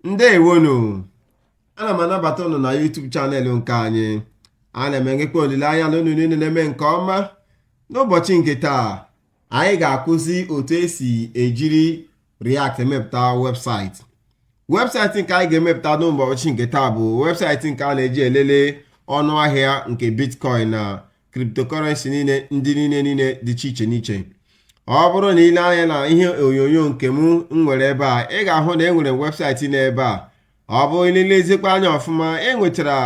ndewonụ ana m anabata ụnụ na YouTube chanel nke anyị ana m enwekwa olileanya na ụnụ niile na-eme nke ọma n'ụbọchị nke taa anyị ga-akụzi otu esi ejiri React emepụta webụsaịtị webụsaịtị nke anyị ga-emepụta n'ụbọchị nke taa bụ webụsaịtị nke a na-eji elele ọnụ ahịa nke bitcoin na cryptocurrency niile ndị niile niile dị iche iche n'iche ọ bụrụ na ile anya na ihe onyonyo nke m nwere ebe a ị ga-ahụ na e nwere webụsaịtị n'ebe a ọ bụrụ na ilezikwa anya ọfụma e nwetara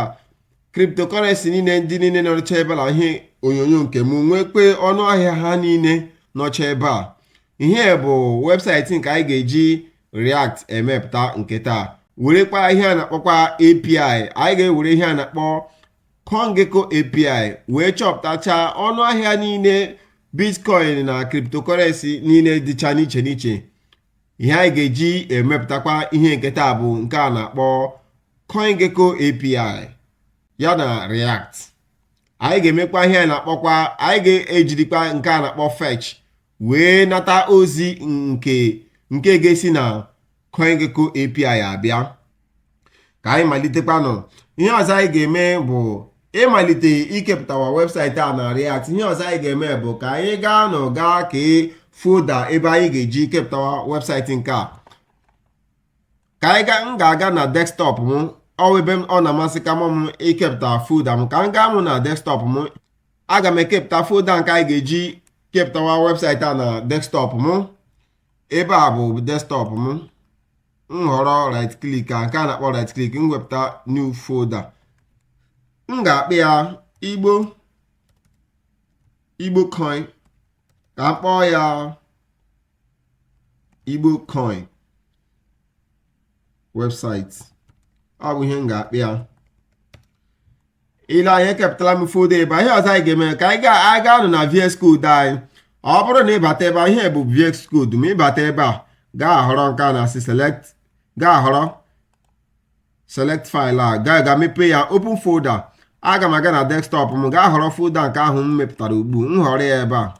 cryptocurrency niile ndị niile nọcha ebe a na ihe onyonyo nke m nwekwa ọnụ ahịa ha niile nọcha ebe a ihe a bụ webụsaịtị nke anyị ga-eji react emepụta nke taa werekwa ihe a na-akpọkwa API anyị ga-ewere ihe a na-akpọ CoinGecko API wee chọpụtachaa ọnụ ahịa niile bitcoin na cryptocurrency niile dịcha n'iche n'iche ihe anyị ga-eji emepụtakwa ihe nke taa bụ nke a na-akpọ CoinGecko API ya na React anyị ga-emekwa ihe a na-akpọkwa anyị ga-ejirikwa nke a na-akpọ fetch wee nata ozi nke nke ga-esi na CoinGecko API abịa ka anyị malitekwanụ ihe ọzọ anyị ga-eme bụ ịmalite ikepụtawa webụsaịtị a na React ihe ọzọ anyị ga-eme bụ ka anyị gaa nụ gaa kee folda ebe anyị ga-eji kepụtawa webụsaịtị nke a ka anyị gaa m ga-aga na desktọp m ọ bụ ebe ọ na-amasịka m ikepụta folda m ka m gaa mụ na desktọp m aga m ekepụta folda nke anyị ga-eji kepụtawa webụsaịtị a na desktọp m ebe a bụ desktop m m họrọ right click a nke a na-akpọ right click m wepụta new folder m ga-akpọ ya igbo igbo coin ka m kpọọ ya igbo coin website ọ bụ ihe m ga-akpọ ya ile anya ekepụtala m folder ebe a ihe ọzọ anyị ga-eme ka anyị gaa nụ na VS Code anyị ọ bụrụ na ịbata ebe a ihe a bụ VS Code m ịbata ebe a gaa họrọ nke a na-asị select gaa họrọ select file a gaa ga mepee ya open folder aga m aga na desktop m gaa họrọ folder nke ahụ m mepụtara ugbu a m họrọ ya ebe a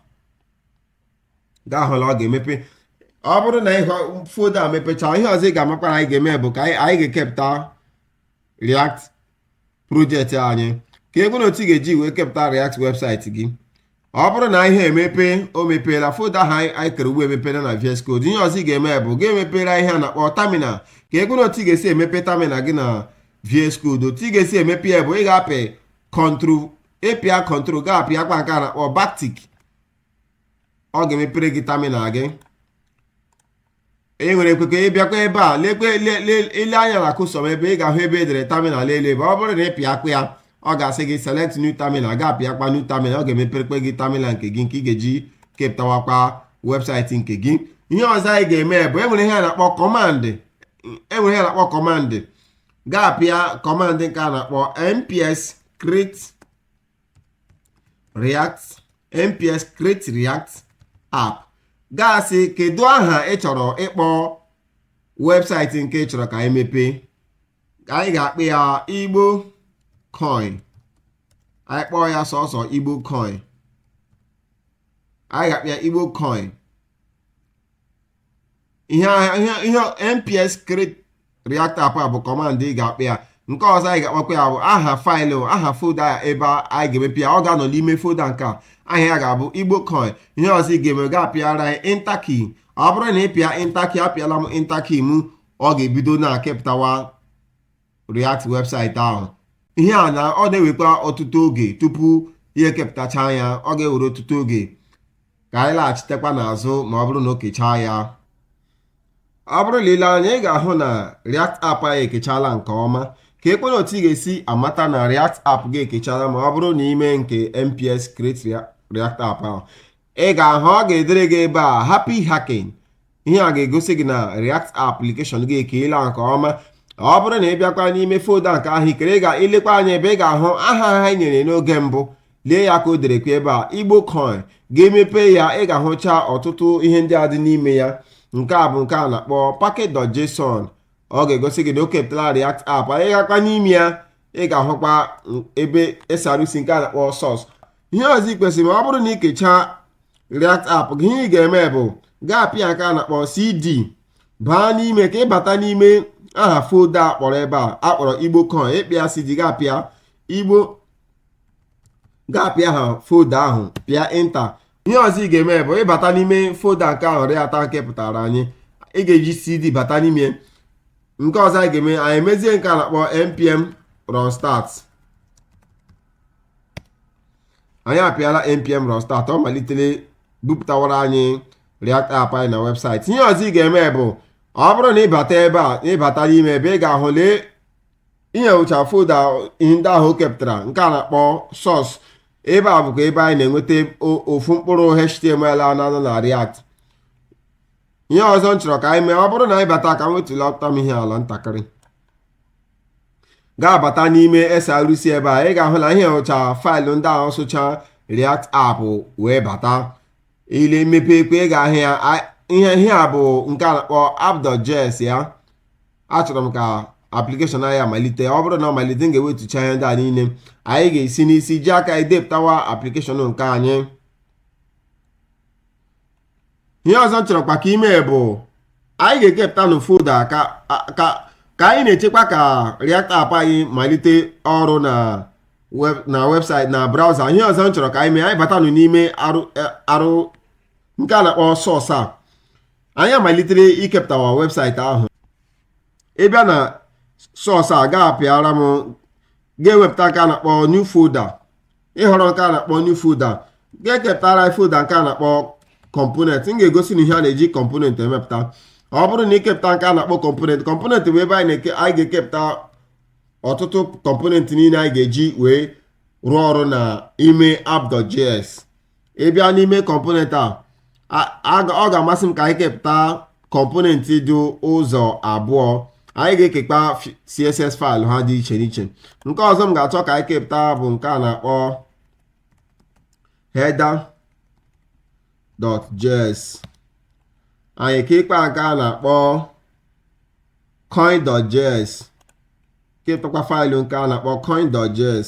ị ga-ahụ na ọ ga-emepe ọ bụrụ na ịhọ folder mepechaa ihe ọzọ ị ga-amakwa na anyị ga-eme bụ ka anyị gaa kepụta React projekti anyị ka ebe na otu ị ga-eji wee kepụta React webụsaịtị gị ọ bụrụ na ihe emepe o mepeela foda ha anyị kere ugbu a emepela na VS Code ihe ọzọ ị ga-eme bụ ị ga-emepe ihe a na-akpọ tamina ka ebe na otu ị ga-esi emepe tamina gị na VS Code otu ị ga-esi emepe ya bụ ị ga-apị kọntrol ịpịa kọntrol gaa pịakwa nke a na-akpọ baktik ọ ga-emepere gị tamina gị i nwerekwa ike ịbịakwa ebe a lekwe le- le- ile anya na cursor m ebe ị ga-ahụ ebe e dere terminal lelee ebe ọ bụrụ na ị pịakwa ya ọ ga-asị gị select new terminal ị ga-apịakwa new terminal ọ ga-emeperekwa gị terminal nke gị nke ị ga-eji kepụtawakwa webụsaịtị nke gị ihe ọzọ anyị ga-eme bụ enwere ihe a na-akpọ kọmandị enwere ihe a na-akpọ kọmand ị ga-apịa kọmandị nke a na-akpọ npx create react npx create react app ga-asị kedu aha ị chọrọ ịkpọ webụsaịtị nke ị chọrọ ka anyị mepee anyị ga-akpọ ya igbo coin anyị kpọọ ya sọsọ igbo coin anyị ga-akpọ ya igbo coin ihe ihe npx create react app a bụ kọmand ị ga-apịa nke ọzọ anyị ga-apịakwa bụ aha faịlụ aha folda ya ebe anyị ga-emepe ya ọ ga-anọ n'ime folda nke a aha ya ga-abụ igbo coin ihe ọzọ ị ga-eme ga-apịara anyị enter key ọ bụrụ na ị pịa enter key apịala m enter key m ọ ga-ebido na-ekepụtawa react webụsaịtị ahụ ihe a na ọ na-ewekwa ọtụtụ oge tupu ya ekepụtacha ya ọ ga-ewere ọtụtụ oge ka anyị laghachitekwa n'azụ ma ọ bụrụ na o kechaa ya ọ bụrụ na i lee anya ị ga-ahụ na React app anyị ekechala nke ọma keekwanụ otu ị ga-esi amata na React app gị ekechala ma ọ bụrụ na i mee nke NPX Create React app ahụ ị ga-ahụ ọ ga-edere gị ebe a happy hacking ihe a ga-egosi gị na React application gị ekeela nke ọma ọ bụrụ na ị bịakwa n'ime folda nke ahụ i kere ị ga-elekwa anya ebe ị ga-ahụ aha ahụ i nyere n'oge mbụ lee ya ka o derekwa ebe a igbo coin ga-emepe ya ị ga-ahụcha ọtụtụ ihe ndị a dị n'ime ya nke a bụ nke a na-akpọ package.json ọ ga-egosi gị na o kepụtala React app anyị gakwa n'ime ya ị ga-ahụkwa ebe SRC nke a na-akpọ sọs ihe ọzọ ị kwesịrị ịma ọ bụrụ na ị kechaa React app gị ihe ị ga-eme bụ gaa pịa nke a na-akpọ CD baa n'ime ka ịbata n'ime aha folda akpọrọ ebe a akpọrọ igbo coin ị pịa CD gaa pịa igbo gaa pịa aha folda ahụ pịa enter ihe ọzọ ị ga-eme bụ ịbata n'ime folda nke ahụ React kepụtara anyị ị ga-eji CD bata n'ime nke ọzọ anyị ga-eme anyị emezie nke a na-akpọ npm run start anyị apịala npm run start ọ malitela bupụtawara anyị React app anyị na webụsaịtị ihe ọzọ ị ga-eme bụ ọ bụrụ na ịbata ebe a ịbata n'ime ebe ị ga-ahụ lee ị hụcha folda ndị ahụ o kepụtara nke a na-akpọ source ebe a bụkwa ebe anyị na-enweta ofu mkpụrụ html a na-anọ na React ihe ọzọ m chọrọ ka anyị mee ọ bụrụ na anyị bata ka m wetulata m ihe ala ntakịrị ga-abata n'ime SRC ebe a ị ga-ahụ na ihe ụcha faịlụ ndị ahụ socha React app wee bata i lee m mepeekwa ị ga-ahụ ya a- ihe ihe a bụ nke a na-akpọ app.js ya achọrọ m ka application anyị malite ọ bụrụ na ọ malite m ga-ewetucha ihe ndị a niile anyị ga-esi n'isi ji aka anyị depụtawa application nke anyị ihe ọzọ m chọrọkwa ka anyị mee bụ anyị ga-ekepụtanụ folda ka ka ka anyị na-echekwa ka React app anyị malite ọrụ na web na webụsaịtị na braụza ihe ọzọ m chọrọ ka anyị mee anyị batanụ n'ime arụ arụ nke a na-akpọ source a anyị malitere ikepụtawa webụsaịtị ahụ ị bịa na source a ga-apịara m ga-ewepụta nke a na-akpọ new folder ị họrọ nke a na-akpọ new folder ga-ekepụtara anyị folder nke a na-akpọ component m ga-egosi unu ihe a na-eji component emepụta ọ bụrụ na i kepụta nke a na-akpọ component component bụ ebe anyị ga-ekepụta ọtụtụ component niile anyị ga-eji wee rụọ ọrụ n'ime app.js ị bịa n'ime component a a- a ga- ọ ga-amasị m ka anyị kepụta component dị ụzọ abụọ anyị ga-ekekwa fi- css faịlụ ha dị iche n'iche nke ọzọ m ga-achọ ka anyị kepụta bụ nke a na-akpọ header.js anyị kekwaa nke a na-akpọ coin.js kepụtakwa faịlụ nke a na-akpọ coin.js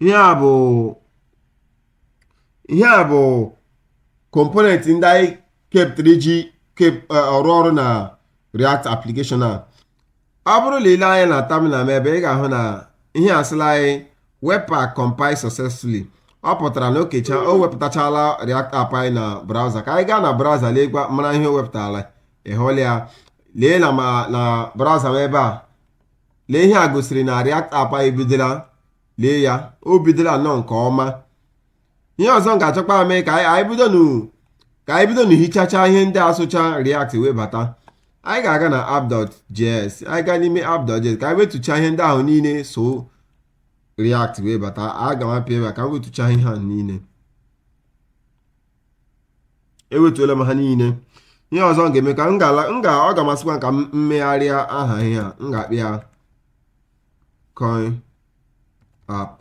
ihe a bụ ihe a bụ component ndị anyị kepụtara iji kep- eh, rụọ ọrụ na react application a ọ bụrụ na i lee anya na terminal m ebe ị ga-ahụ na ihe a asịla anyị webpack compile successfully ọ pụtara na o kecha o wepụtachala react app anyị na browser ka anyị gaa na browser leekwa mara ihe o wepụtara ị hụla ya lee na ma na browser m ebe a lee ihe a gosiri na React app anyị bidola lee ya o bidola nnọọ nke ọma ihe ọzọ m ga-achọkwa mee ka anyị bido ka anyị bidonụ hichacha ihe ndị a socha React wee bata anyị ga-aga na app.js anyị gaa n'ime app.js ka anyị wetucha ihe ndị ahụ niile so React wee bata aga m apịa ebe a ka m wetucha ihe ahụ niile ewetuola m ha niile ihe ọzọ m ga-eme ka m ga m ga ọ ga-amasịkwa m ka m megharịa aha ihe a m ga-akpọ ya coin app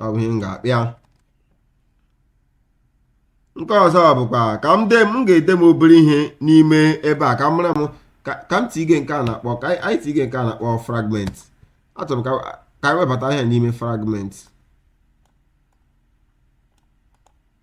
ọ bụ ihe m ga-akpọ ya nke ọzọ bụkwa ka m de m ga-ede m obere ihe n'ime ebe a ka m mara m ka ka m tige nke a na-akpọ ka anyị anyị tige nke a na-akpọ fragment achọrọ m ka ka anyị webata ihe n'ime fragment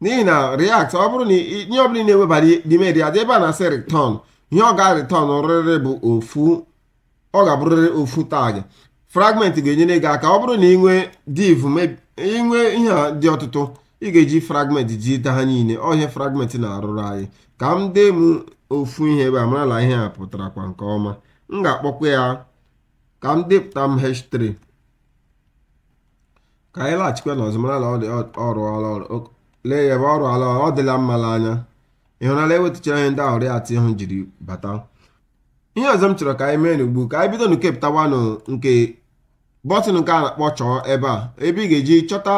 n'ihi na react ọ bụrụ na i- ihe ọbụla ị na-ewebara n'ime react ebe a na-asị return ihe ọ ga return rịrị bụ ofu ọ ga-abụrịrị ofu tag fragment ga-enyere gị aka ọ bụrụ na ị nwee div meb- ị nwee ihe a dị ọtụtụ ị ga-eji fragment jide ha niile ọ ihe fragment na-arụrụ anyị ka m dee m ofu ihe ebe a marala ihe a pụtarakwa nke ọma m ga-akpọkwa ya ka m depụta m h3 ka anyị laghachikwa nụ ọzọ mara na ọ dị ọ rụọla ọrụ O- lee ya ebe ọ rụọla ọrụ ọ dịla mma n'anya ị hụnala ewetuchara ihe ndị ahụ react ahụ jiri bata ihe ọzọ m chọrọ ka anyị mee nụ ugbu ka anyị bido nụ kepụtawanụ nke bọtịn nke a na-akpọ chọọ ebe a ebe ị ga-eji chọta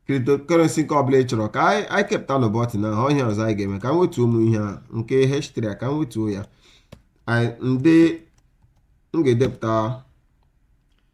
cryptocurrency nke ọbụla ị chọrọ ka anyị anyị kepụta nụ bọtịn ahụ ọ ihe ọzọ anyị ga-eme ka m wetuo ụmụ ihe a nke h3 a ka m wetuo ya Anyị- ndị m ga-edepụta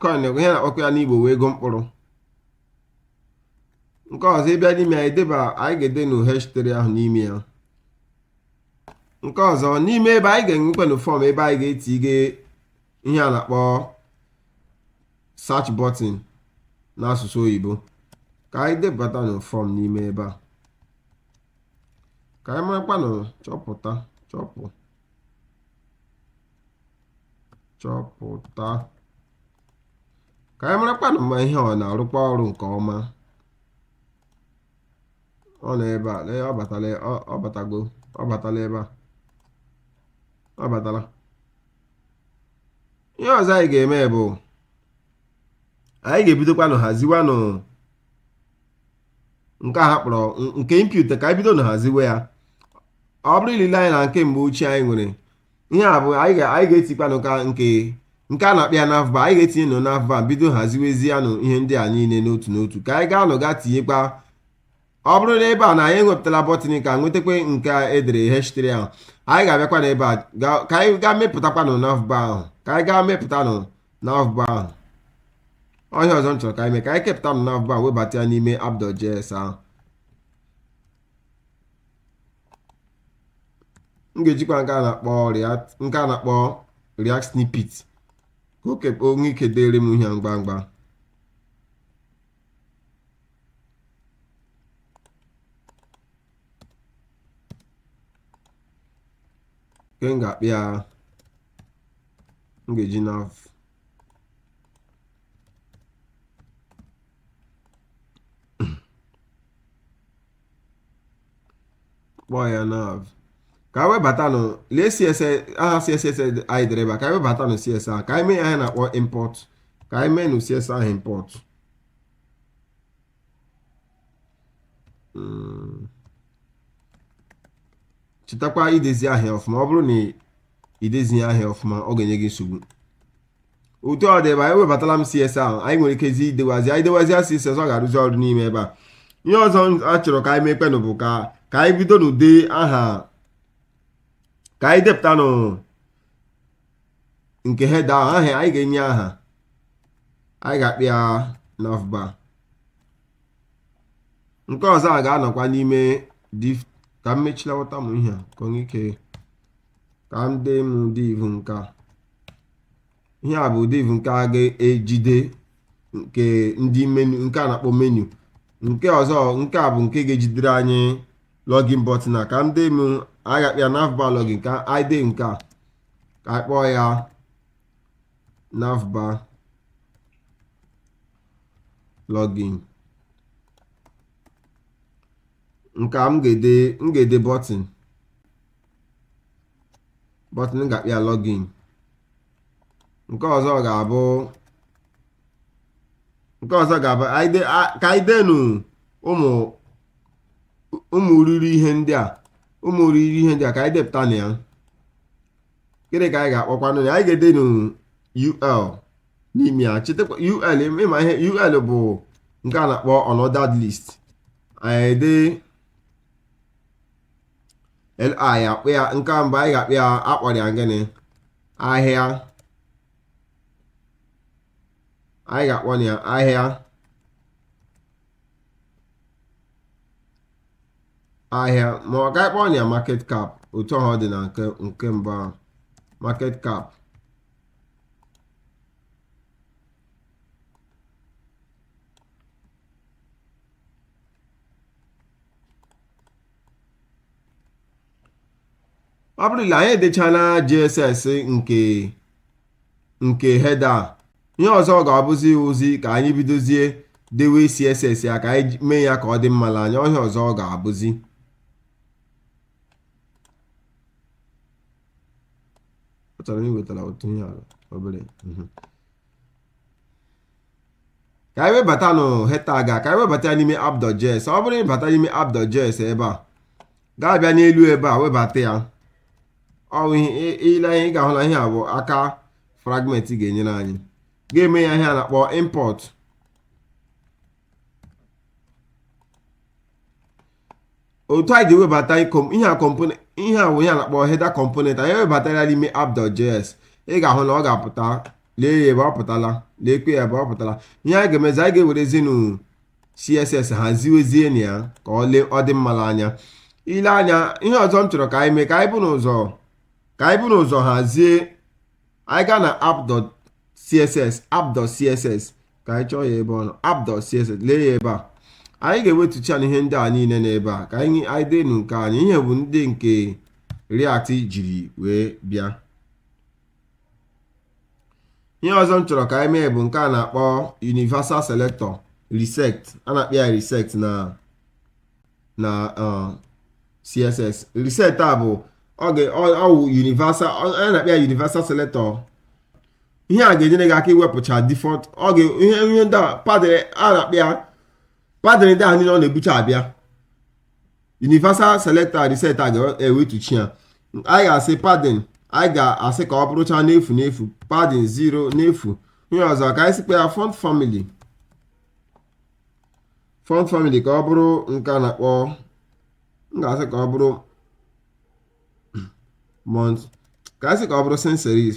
coin bụ ihe a na-akpọkwa ya n'Igbo wee ego mkpụrụ nke ọzọ ị bịa n'ime div a anyị ga-ede nụ h3 ahụ n'ime ya nke ọzọ n'ime ebe anyị ga-enwekwanụ fọm ebe anyị ga-etige ihe a na-akpọ search button n'asụsụ oyibo ka anyị debata nụ fọm n'ime ebe a ka anyị marakwanụ chọpụta chọpụ chọpụta ka anyị marakwanụ ma ihe ọ na-arụkwa ọrụ nke ọma ọ nọ ebe a lee ọ batala ọ- ọ batago ọ batala ebe a ọ batala ihe ọzọ anyị ga-eme bụ anyị ga-ebidokwanụ haziwanụ nke a ha kpọrọ nke input ka anyị bido nụ haziwe ya ọ bụrụ i lele anya na nke mgbe ochie anyị nwere ihe a bụ anyị ga- anyị ga-etikwanụ ka nke nke a na-akpọ ya nav bar anyị ga-etinye nụ nav bar bido haziwezie nụ ihe ndị a niile n'otu n'otu ka anyị gaa nụ gaa tinyekwa ọ bụrụ na ebe a na anyị enwetala bọtịn ka nwetakwa nke a edere h3 ahụ anyị ga-abịakwanụ ebe a ga- ka anyị gaa mepụtakwanụ nav bar ahụ ka anyị gaa mepụtanụ nav bar ahụ ọ ihe ọzọ m chọrọ ka anyị mee ka anyị kepụta nụ nav bar webata ya n'ime app.js ahụ m ga-ejikwa nke a na-akpọ react nke a na-akpọ react snippet ka o kep- o nwee ike deere m ihe ngwa ngwa nke m ga-akpọ ya m ga-eji nav kpọọ ya nav ka anyị webatanụ lee css ahụ css anyị dere ebe a ka anyị webatanụ css ahụ ka anyị mee ihe a na-akpọ import ka anyị mee nụ css ahụ import hmm. chetakwa idezi ihe a ọfụma ọ bụrụ na i dezighị ihe a ọfụma ọ ga-enye gị nsogbu otu ọ dị ebe anyị webatala m css ahụ anyị nwere ikezi idewazi anyị dewazi css ọ ga-arụzi ọrụ n'ime ebe a ihe ọzọ a chọrọ ka anyị mekpenụ bụ ka ka anyị bidonụ dee aha ka anyị depụtanụ nke header ahụ aha anyị ga-enye aha anyị ga-akpọ ya navbar nke ọzọ a ga-anọkwa n'ime div ka m mechilawata m ihe a ka onye ike ka m dee m div nke a ihe a bụ div nke a ga-ejide nke ndị menu nke a na-akpọ menu nke ọzọ nke a bụ nke ga-ejidere anyị login button a ka m dee m anyị ga-akpọ ya navbar login ka anyị dee nke a ka anyị kpọọ ya navbar login nke a m ga-ede m ga-ede button button m ga-akpọ ya login nke ọzọ ga-abụ nke ọzọ ga-abụ anyị de- a- ka anyị denu ụmụ ụmụ irighiri ihe ndị a ụmụ irighiri ihe ndị a ka anyị depụtanụ ya gịnị ka anyị ga-akpọkwanụ ya anyị ga-edenu ul n'ime ya chetakwa ul ị ma ihe ul bụ nke a na-akpọ unordered list anyị ede li akpọọ ya nke a mgbe anyị ga-akpọ ya akpọrọ ya gịnị ahịa anyị ga-akpọ ya ahịa ahịa ma ka anyị kpọọ ya market cap otu ahụ ọ dị na nke nke mbụ ahụ market cap ọ bụrụ na anyị edechala JSX nke nke header a ihe ọzọ ga-abụzi ozi ka anyị bidozie dewe CSS ya ka anyị mee ya ka ọ dị mma n'anya ihe ọzọ ọ ga-abụzi chọrọ iwetara otu ihe ala obere mhm. ka anyị webatanụ header a ka anyị webata ya n'ime app.js ọ bụrụ ị bata n'ime app.js ebe a ga-abịa n'elu ebe a webata ya ọ wụ i lee anya ị ga-ahụ na ihe a bụ aka fragment ga-enyere anyị ga-eme ya ihe a na-akpọ import otu anyị ga-ewebata ihe a component ihe a wụ ihe a na-akpọ header component anyị ewebatara n'ime app.js ị ga-ahụ na ọ ga-apụta lee ya ebe ọ pụtala leekwa ya ebe ọ pụtala ihe anyị ga-emezi anyị ga-ewerezinu css haziwezienụ ya ka ọ lee ọ dị mma n'anya ile anya ihe ọzọ m chọrọ ka anyị mee ka anyị bunụ ụzọ ka anyị bunụ ụzọ hazie anyị gaa na app.css app.css ka anyị chọọ ya ebe ọ nọ app.css lee ya ebe a anyị ga-ewetuchanụ ihe ndị a niile n'ebe a ka anyị anyị denụ nke anyị ihe a bụ ndị nke React jiri wee bịa ihe ọzọ m chọrọ ka anyị mee bụ nke a na-akpọ universal selector reset a na-akpọ ya reset na na uh, css reset a bụ oge ọ wụ universal a na-akpọ ya universal selector ihe a ga-enyere gị aka iwepụcha default oge ihe ihe ndị a padding a na-akpọ ya padding ndị a niile ọ na-ebucha abịa universal selector and reset a ga-ewetucha ya anyị ga-asị padding anyị ga-asị ka ọ bụrụcha n'efu n'efu padding 0 n'efu ihe ọzọ ka anyị sịkwa ya font family font family ka ọ bụrụ nke a na-akpọ m ga-asị ka ọ bụrụ mont ka anyị sị ka ọ bụrụ sans serif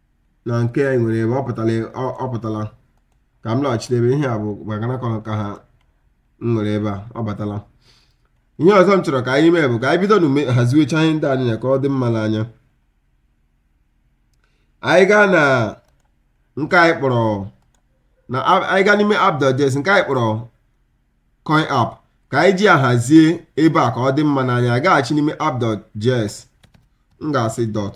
na nke anyị nwere ebe a ọ pụtala ọ- ọ pụtala ka m laghachite ebe ihe a bụ maka na akọrọ ka ha m nwere ebe a ọ batala ihe ọzọ m chọrọ ka anyị mee bụ ka anyị bidonụ haziwecha ihe ndị a niile ka ọ dị mma n'anya anyị gaa na nke anyị kpọrọ na a- anyị gaa n'ime app.js nke anyị kpọrọ coin app ka anyị ji ya hazie ebe a ka ọ dị mma n'anya gaghachi n'ime app.js m ga-asị dot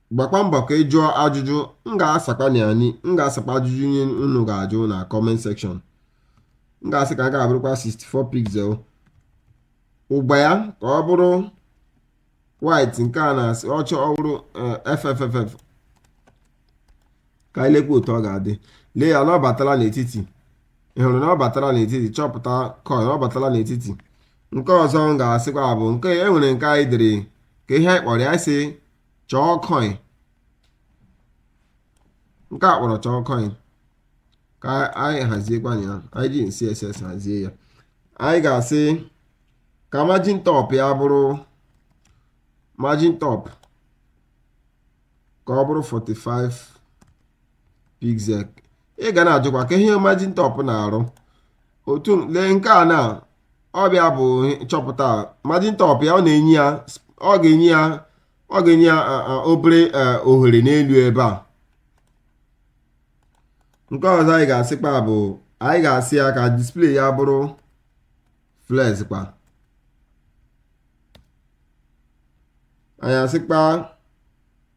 gbakwa mbọ ka ị jụọ ajụjụ m ga-asakwa na anyị m ga-asakwa ajụjụ ihe unu ga-ajụ na comment section m ga-asị ka a ga-abụrụkwa 64 pixel ụgba ya ka ọ bụrụ white nke a na-asị ọcha ọ bụrụ eh, fff ka anyị lekwa otu ọ ga-adị lee ya na ọ batala n'etiti ị hụrụ na ọ batala n'etiti chọpụta coin ọ batala n'etiti nke ọzọ m ga-asịkwa bụ nke e nwere nke anyị dere kee ihe anyị kpọrọ ya sị chọọ coin nke a kpọrọ chọọ coin ka anyị haziekwanụ ya anyị ji css hazie ya anyị ga-asị ka margin top ya bụrụ margin top ka ọ bụrụ 45 pixel ị ga na-ajụkwa kee ihe margin top na-arụ otu lee nke a nọ ebe a bụ chọpụta margin top ya ọ na-enye ya ọ ga-enye ya ọ ga-enye ya obere ohere n'elu ebe a nke ọzọ anyị ga-asịkwa bụ anyị ga-asị ya ka display ya bụrụ flex kwa anyị asịkwa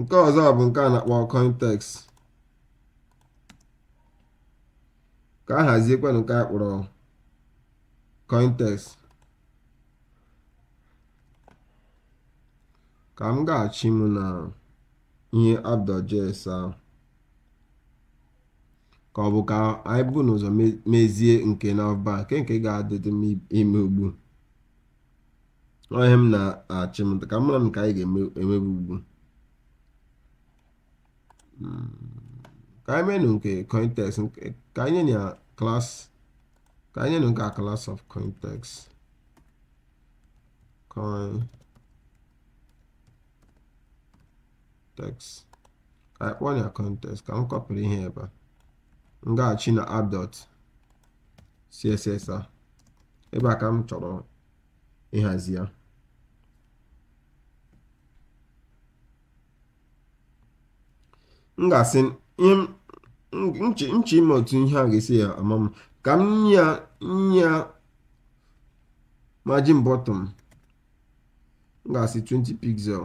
nke ọzọ bụ nke a na-akpọ coin text ka a haziekwanụ nke a kpọrọ coin text ka m gaghachi m na ihe app dot js ahụ ka ọ bụ ka anyị bu ụzọ mezie nke navbar nke nke ga-adịrị m ime ugbu ọ ihe m na-eche ka m mara nke anyị ga-emebe ugbu hmm. ka anyị menụ nke coin text ka anyị nye ya class ka anyị nyenụ nke a class of coin text coin text ka anyị kpọọ ya coin text ka m kọpịrị ihe ebe a m gaghachi na app dot css a ebe a ka m chọrọ ịhazi ya m ga-asị m chọ ịma otu ihe a ga-esi ya ama mma ka m nye ya nye ya margin bottom m ga-asị 20 pixel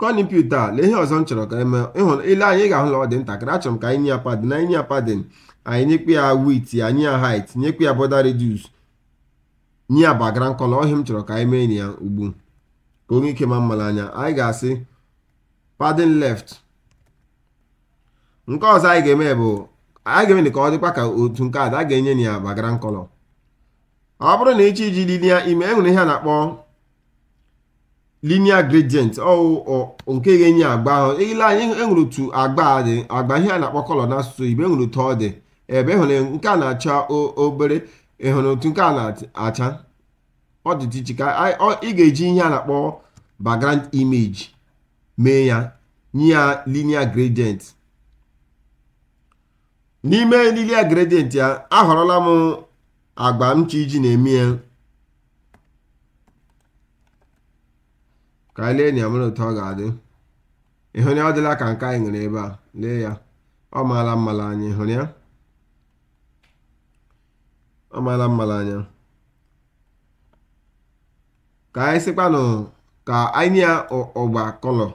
coin input a lee ihe ọzọ m chọrọ ka e mee ị lee anya ị ga-ahụ na ọ dị ntakịrị achọrọ m ka anyị nye ya padding anyị nye ya padding anyị nyekwa ya width nye ya height nyekwa ya border radius nye ya background color ọ ihe m chọrọ ka anyị mee ya ugbu ka o nwee ike maa mma n'anya anyị ga-asị padding left nke ọzọ anyị ga-eme bụ anyị ga-eme ka ọ dịkwa ka otu nke a a ga-enye ya background color ọ bụrụ na ị chọ iji linear mee e nwere ihe a na-akpọ linear gradient ọ wụ nke ga-enye agba ahụ ị lee anya e nwere otu agba a dị agba ihe a na-akpọ color n'asụsụ oyibo e nwere otu ọ dị ebe ị hụrụ nke a na-acha o- obere ị hụrụ otu nke a na-acha ọ dị iche iche ka anyị- ọ- ị ga-eji ihe a na-akpọ background image mee ya nye ya linear gradient n'ime linear gradient ya ahọrọla m agba m chọ iji na-eme ya ka anyị lee anya mara otu ọ ga-adị ị hụrụ ya ọ dịla ka nke anyị nwere ebe a lee ya ọ maala mma n'anya ị hụrụ ya ọ maala mma n'anya ka anyị sịkwanụ ka anyị nye ya agba color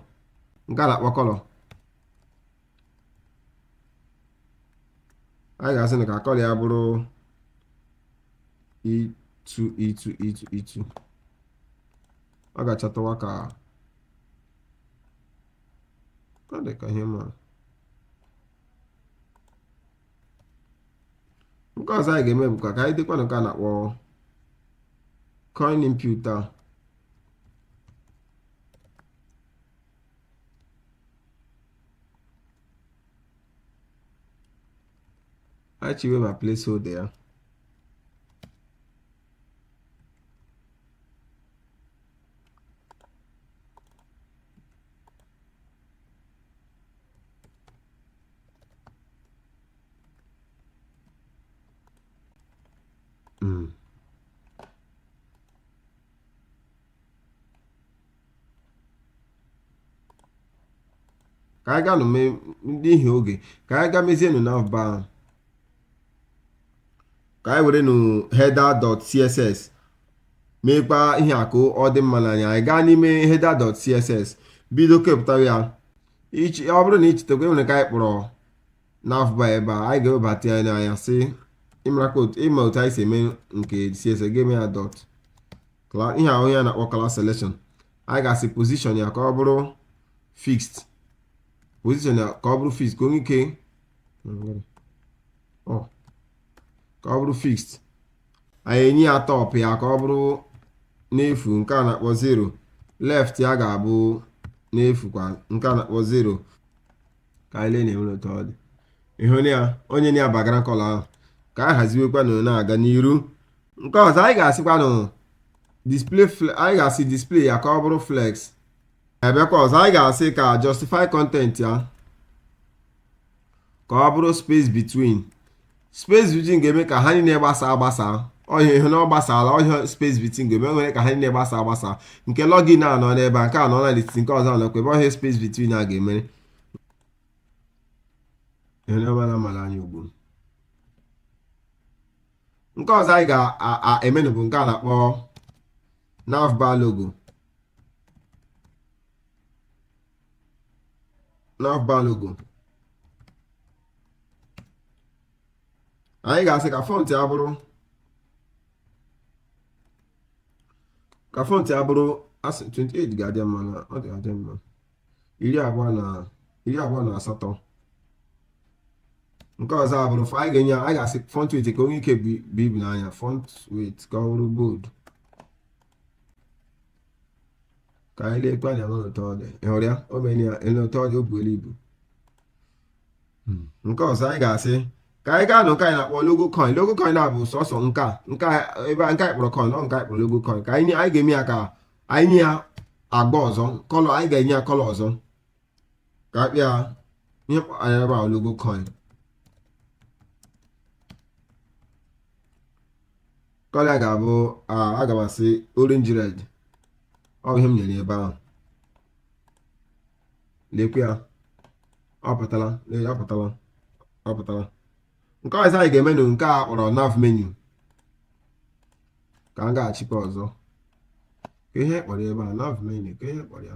nke a na-akpọ color anyị ga-asị na ka kọlọ ya bụrụ e2 e2 e2 ọ ga-achatawa ka ka dị ka ihe mara nke ọzọ anyị ga-eme bụ ka ka anyị dekwa nke a na-akpọ coin input a anyị chiwe ma placeholder ya Mm. ka anyị gaa nụ mee n'ihi oge ka anyị gaa mezienụ navbar ahụ ka anyị were nụ header.css meekwa ihe a ka ọ dị mma n'anya anyị gaa n'ime header.css bido kepụta ya ichi ọ bụrụ na ị chetakwa enwere nke anyị kpọrọ navbar ebe a anyị ga-ewebata ya n'anya sị ịmara ka otu ịma otu anyị si eme nke css ga-eme ya dot Cla- ihe ahụ a na-akpọ class selection anyị ga-asị position ya ka ọ bụrụ fixed position ya ka ọ bụrụ fixed ka o nwee ike ọ ka ọ bụrụ fixed anyị enye ya top ya ka ọ bụrụ n'efu nke a na-akpọ 0 left ya ga-abụ n'efu kwa nke a na-akpọ 0 ka anyị lee na e nwere otu ọ dị ị hụ na o nyena ya background kọlọ ahụ ka anyị haziwekwanụ na-aga n'iru nke ọzọ anyị ga-asịkwa na display anyị ga-asị display ya ka ọ bụrụ flex ebekwa ọzọ anyị ga-asị ka justify content ya ka ọ bụrụ space between space between ga-eme ka ha niile gbasa agbasa ọ bụ ihe na ọ gbasala ọ bụ ihe space between ga-eme nwere ka ha niile gbasa agbasa nke login a nọ n'ebe a nke a nọ na n'etiti nke ọzọ nọkwa ebe ọ bụ ihe space between a ga-emere nke ọzọ anyị ga-emenụ bụ nke a na-akpọ navbar logo navbar logo anyị ga-asị ka font ya bụrụ ka font ya bụrụ asị 28 ga-adị mma na ọ dị adị mma iri abụọ na iri abụọ na asatọ nke ọzọ abụrụ fọ anyị ga-enye anyị ga-asị font weight ka o nwee ike buo ibu n'anya font weight ka ọ bụrụ bold ka anyị lekwa anya n'otu ọ dị ị hụrụ ya o mere ya ele otu ọ dị o buela ibu nke ọzọ anyị ga-asị ka anyị gaa nụ nke anyị na-akpọ logo coin logo coin na-abụ sọsọ nke a nke a ebe a nke anyị kpọrọ coin ọ nke anyị kpọrọ logo coin ka anyị nye- anyị ga-eme ya ka anyị nye ya agba ọzọ kọlọ anyị ga-enye ya kọlọ ọzọ ka a kpịa ihe kpọara ebe a logo coin kọlọ ya ga-abụ aga m asị orange red ọ bụ ihe m nyere ebe ahụ lekwe ya ọ pụtara ọ pụtara ọ pụtara nke ọzọ anyị ga-eme na nke a kpọrọ nav menu ka m ga-achịkwa ọzọ ka ihe kpọrọ ebe a nav menu ka ihe kpọrọ ya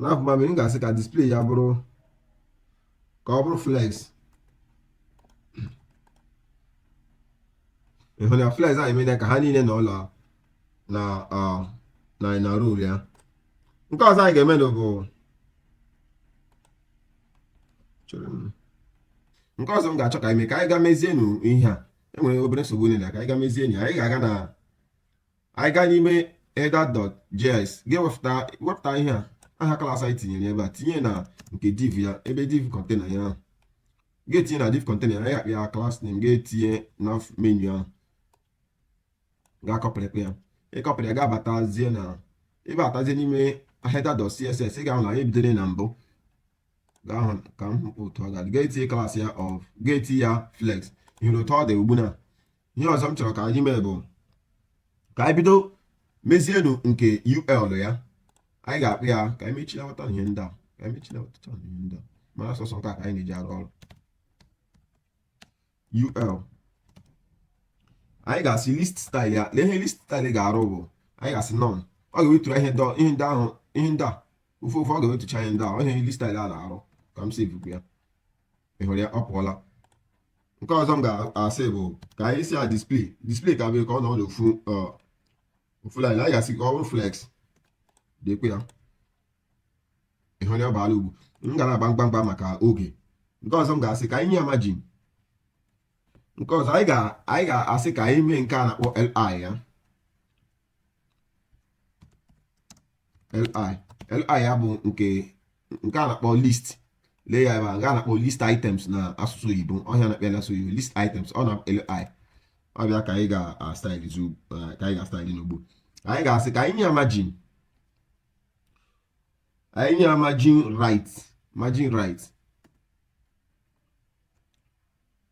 nav menu m ga-asị ka display ya bụrụ ka ọ bụrụ flex ị hụ na flex anyị mere ka ha niile nọrọ na na na row ya nke ọzọ anyị ga-emenụ bụ nke ọzọ m ga-achọ ka anyị mee ka anyị ga mezienụ ihe a e nwere obere nsogbu niile ka anyị ga mezienụ anyị ga-aga na anyị gaa n'ime header.js ga-ewepụta wepụta ihe a aha klas anyị tinyere ebe a tinye na nke div ya ebe div kọntena ya ahụ ga-etinye na div kọntena ya akpị ya klas name ga-etinye nav menu ahụ ga-akọpịrịkwa ya ịkọpịrị ya ga-abatazie na abatazie n'ime header.css ị ga-ahụ na anyị bidoro na mbụ ga-ahụ ka m hụpụ otu ọ ga-adị ga-etinye klas ya of ga-etinye ya flex ị hụrụ otu ọ dị ugbu na ihe ọzọ m chọrọ ka anyị mee bụ ka anyị bido mezienụ nke ul ya anyị ga-akpị ya ka anyị mechilawata ihe ndị a ka anyị mechilawata ihe ndị a maka sọsọ nke a ka anyị na-eji arụ ọrụ ul anyị ga-asị list style ya lee ihe list style ga-arụ bụ anyị ga-asị none ọ ga-ewetụrụ ihe ndị ahụ ihe ndị a ofu ofu ọ ga-ewetụcha ihe ndị a ihe list style a na-arụ ka m save ya ị hụrụ ya ọ pụọla nke ọzọ m ga-asị bụ ka anyị sị ya display display ka bụ ka ọ nọ n'ofu ofu line anyị ga-asị ka ọ bụrụ flex lekwe ya ị hụ na ọ bara ugbu m ga na-agba ngwa ngwa maka oge nke ọzọ m ga-asị ka anyị nye ya margin nke ọzọ anyị ga-asị ka anyị mee nke a na-akpọ li ya li li ya bụ nke nke a na-akpọ list lee ya ebe a nke a na-akpọ list items na asụsụ oyibo ọ ihe a na-akpọ ya asụsụ oyibo list items ọ bụ na li ọ bụ ya ka anyị ga-astaịlị ka anyị ga-astaịlị n'ugbu a anyị ga-asị ka anyị nye ya margin anyị nye ya margin right margin right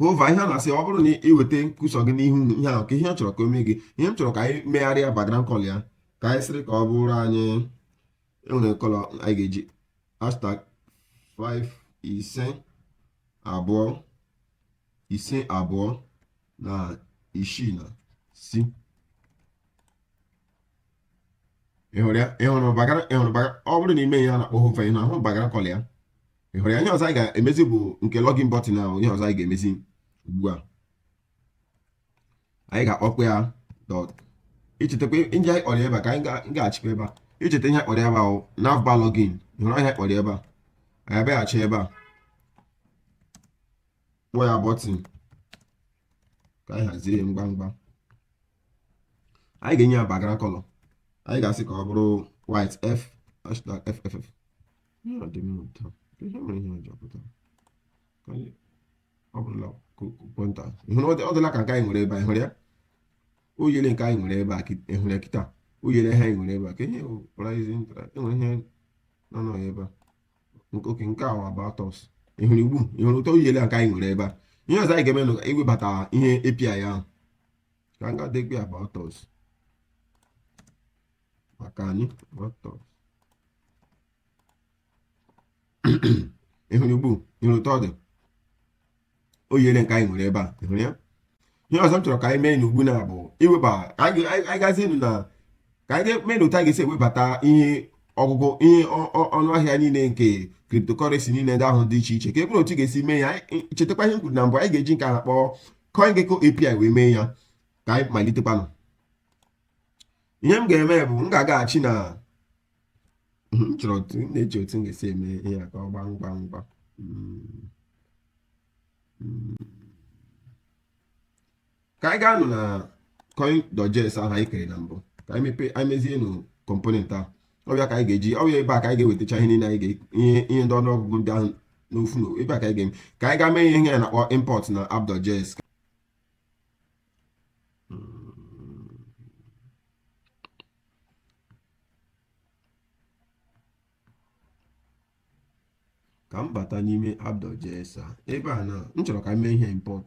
hover ihe ọ na-asị ọ bụrụ na ị weta cursor gị n'ihu ihe ahụ kee ihe ị chọrọ ka o mee gị ihe m chọrọ ka anyị megharịa background color ya ka anyị sịrị ka ọ bụrụ anyị ewere color anyị ga-eji hashtag 5 ise abụọ ise abụọ na isii na c ịhụrụ ya ịhụrụ background ịhụrụ background ọ bụrụ na ime ihe a na-akpọ hover ịhụ ahụ background color ya ịhụrụ ya ihe ọzọ anyị ga-emezi bụ nke login button ahụ ihe ọzọ anyị ga-emezi ugbu a anyị ga-akpọkwa ya dot ichetakwa ndị anyị kpọrọ ebe a ka anyị ga-achịkwa ebe a icheta ihe kpọrọ ebe ahụ navbar login ịhụrụ ihe kpọrọ ebe a anyị abịaghachi ebe a kpọọ ya button ka anyị hazie ngwa ngwa anyị ga-enye ya background color anyị ga-asị ka ọ bụrụ white f hashtag fff ọ dị mma ụtọ ihe mere ihe ọjọọ pụtara ọ bụrụla kwenta ịhụrụ ọ dịla ka nke anyị nwere ebe a ịhụrụ ya o yere nke anyị nwere ebe a ịhụrụ ya kịta o yere ihe anyị nwere ebe a ka ihe rising enwere ihe nọ nọ ebe a oke nke a wa about us ịhụrụ ugbu a ịhụrụ otu o yere nke anyị nwere ebe a ihe ọzọ anyị ga-eme na iwebata ihe API ahụ ka m ga-adekwa ya about us maka anyị about us ịhụrụ ugbu a ịhụrụ otu ọ dị o yere nke anyị nwere ebe a ịhụrụ ya ihe ọzọ m chọrọ ka anyị meenụ ugbu a bụ iweba anyị gazienu na ka anyị ga-eme na otu a ga-esi ewebata ihe ọgụgụ ihe ọnụ ahịa niile nke cryptocurrency niile ndị ahụ dị iche iche ka ọ bụrụ otu ga-esi mee ya chetakwa ihe m kwuru na mbụ anyị ga-eji nke a na-akpọ CoinGecko API wee mee ya ka anyị malitekwanụ ihe m ga-eme bụ m ga-agaghachi na hmm, chọrọ otu m na-eji otu m ga-esi eme ihe a ka ọ gbaa ngwa ngwa hmm. Hmm. ka anyị gaa nụ na coin dot js ahụ anyị kere na mbụ ka anyị mepee anyị mezie nụ component ahụ ọ bụ ya ka anyị ga-eji ọ bụ ebe a ka anyị ga-ewetacha ihe niile anyị ihe ihe ndị ọnụọgụgụ ndị ahụ n'ofu na ebe a ka anyị ga-eme ka anyị gaa mee ihe a na-akpọ import na app dot js ka m bata n'ime app dot js a ebe a na m chọrọ ka m mee ihe import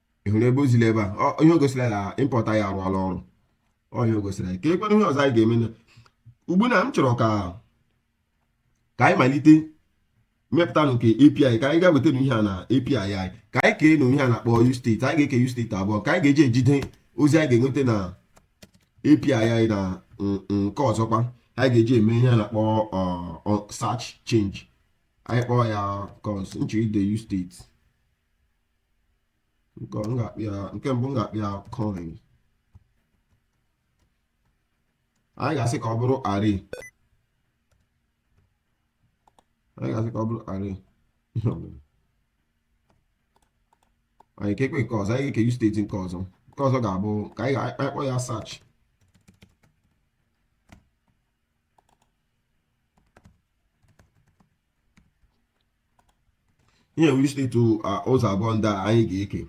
ị hụrụ ebe o ziri ebe a Ọ- ihe o gosiri na import anyị arụọla ọrụ ọ ihe o gosiri anyị kekwanụ ihe ọzọ anyị ga-eme na ugbu na m chọrọ ka ka anyị malite mepụta nke API ka anyị gaa weta ihe a na API anyị ka anyị keenụ ihe a na-akpọ use state anyị ga-eke use state abụọ ka anyị ga-eji ejide ozi anyị ga-enweta na API anyị na n- nke ọzọkwa anyị ga-eji eme ihe a na-akpọ ọ, ọ, search change anyị kpọọ ya const m chọ ide use state nke m ga-akpọ ya nke mbụ m ga-akpọ ya coin anyị ga-asị ka ọ bụrụ array anyị ga-asị ka ọ bụrụ array anyị keekwa nke ọzọ anyị ga-eke use state nke ọzọ nke ọzọ ga-abụ ka anyị ga-akpọ ya search ihe nwere use state ụzọ abụọ ndị a anyị ga-eke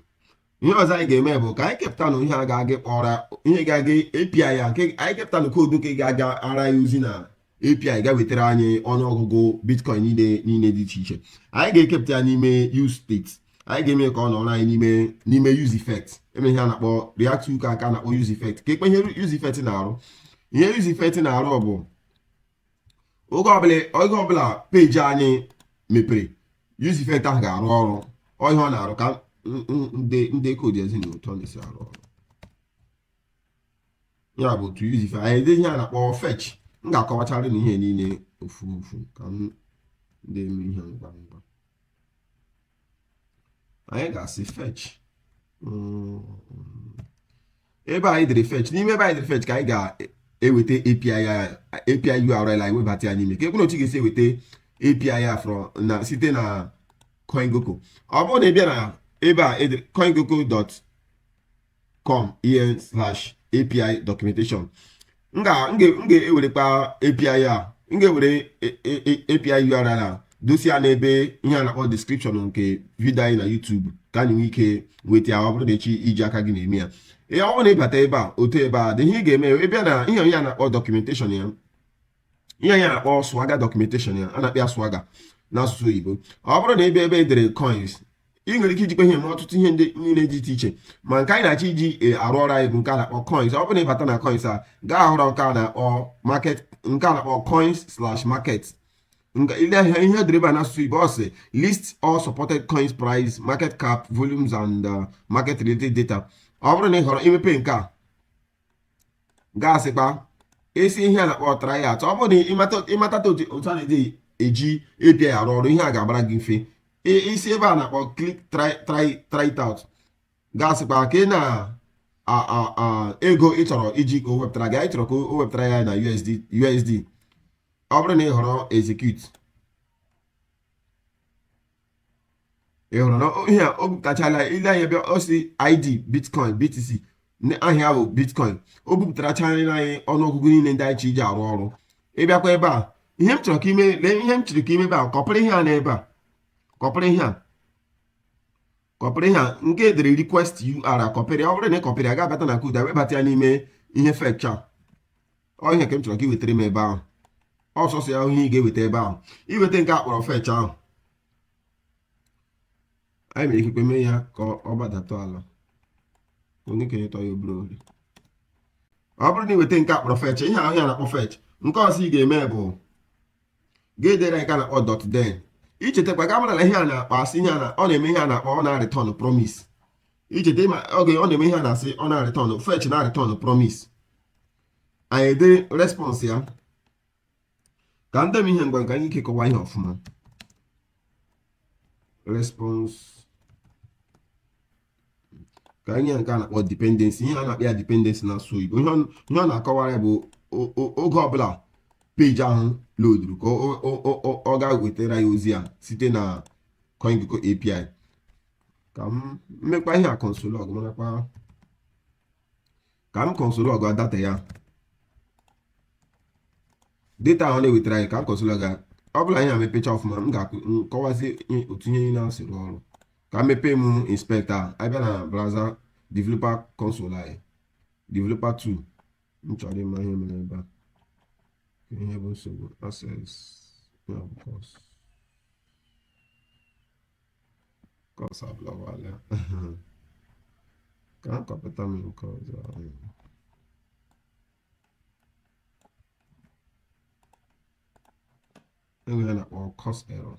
ihe ọzọ anyị ga-eme bụ ka anyị kepụtanụ ihe a ga-aga kpọra ihe ga-aga API ya nke anyị kepụtanụ koodu nke ga-agara anyị ozi na API gaa wetara anyị ọnụọgụgụ bitcoin niile niile dị iche iche anyị ga-ekepụta ya n'ime use state anyị ga-eme ka ọ nọrọ anyị n'ime n'ime use effect eme ihe a na-akpọ react hook a na-akpọ use effect kekwa ihe use effect na-arụ ihe use effect na-arụ bụ oge ọbụla oge ọbụla peji anyị mepere use effect ahụ ga-arụ ọrụ ọ ihe ọ na-arụ ka n- n- m dee koodu zi unu otu ọ na-esi arụ ọrụ ya bụ otu use effect anyị edee ihe a na-akpọ fetch m ga-akọwachara unu ihe niile ofu ofu ka m dị eme ihe ngwa ngwa anyị ga-asị fetch mm. ebe anyị dere fetch n'ime ebe anyị dere fetch ka anyị ga-eweta API API URL anyị webata ya n'ime kekwanụ otu anyị ga-esi eweta API ya from na site na CoinGecko ọ bụrụ na ị bịa na ebe a e CoinGecko dot com en slash api documentation m ga-ewerekwa api a m ga-ewere api url a dosa ya n'ebe ihe a na-akpọ description nke vidio anyị na YouTube ka anyị nwee ike nweta ya ọ bụrụ na ị chọ iji aka gị na-eme ya ihe ọ bụrụ na ị bata ebe a otu ebe a dị ihe ị ga-eme ebe a na ihe anyị na-akpọ documentation ya ihe anyị na-akpọ swagger documentation ya a na-akpọ swagger n'asụsụ oyibo ọ bụrụ na ị bịa ebe e dere coins ị nwere ike ijikwa ihe mee ọtụtụ ihe ndị niile dị iche iche ma nke anyị na-achọ iji e, arụ ọrụ anyị bụ nke a na-akpọ coins ọ bụrụ na ị bata na coins a gaa họrọ nke a na-akpọ market nke a na-akpọ coins slash market ị lee anya ihe e dere ebe a n'asụsụ oyibo ọ sị list all supported coins price market cap volumes and uh, market related data ọ bụrụ na ị họrọ imepe nke a nke a sịkwa esi ihe a na-akpọ try it out ọ bụrụ na ị mata otu a na-eji eji API arụ ọrụ ihe a ga-abara gị mfe isi ebe a na-akpọ click try it out gasịkwa ka ị na ego ị chọrọ iji ka o wepụtara gị anyị chọrọ ka o wepụtara ya na USD USD ọ bụrụ na ị họrọ execute ị hụrụ na o- ihe a o bupụtachala i lee anya ebe a ọ sị id bitcoin btc na aha ya bụ bitcoin o bupụtarachala anyị ọnụọgụgụ niile ndị anyị chọ iji arụ ọrụ ị bịakwa ebe a ihe m chọrọ ka i mee lee ihe m chọrọ ka i mee ebe a kọpịrị ihe a nọ ebe a kọpịrị ihe a kọpịrị ihe a nke e dere request URL kọpịrị ọ bụrụ na ị kọpịrị ya ga-abata na koodu webata ya n'ime ihe fetch a ọ ihe ka m chọrọ ka ị wetara m ebe ahụ ọ sọsọ ya ihe ị ga-eweta ebe ahụ i weta nke a kpọrọ fetch ahụ anyị mere ikekwe mee ya ka ọ gbadata ala onye kenye tọ ya obere ohere ọ bụrụ na i weta nke a kpọrọ fetch ihe ahụ a na-akpọ fetch nke ọzọ ị ga-eme bụ ga-edere anyị nke a na-akpọ dot then i chetakwa ị ga-amara na ihe a na-akpọ asị ihe na ọ na-eme ihe a na-akpọ ọ na-arịtọn promise i cheta ma oge ọ na-eme ihe a na-asị ọ na-arịtọn fetch na-arịtọn promise anyị edee response ya ka m dee ihe ngwa ka anyị nwee ike kọwa ihe ọfụma response ka anyị nke a na-akpọ dependency ihe a na-akpọ ya dependency n'asụsụ Igbo ihe ọ na-akọwara ya bụ oge ọbụla peji ahụ loduru ka ọ ga wetara ya ozi a site na CoinGecko API ka m mekwa ihe a console log marakwa ka m console log data ya data ahụ na-ewetara anyị ka m console log ọ bụrụ na ihe a mepecha ọfụma m ga-akọwazi otu ihe na-esi arụ ọrụ ka m mepee m inspector ahụ abịa na browser developer console anyị developer tool m chọrọ ịma ihe mere ebe a ihe bụ nsogbu access ya bụ CORS CORS ablọkwala ka a kọpụta m nke ọzọ ahụ e nwere ihe a na-akpọ CORS error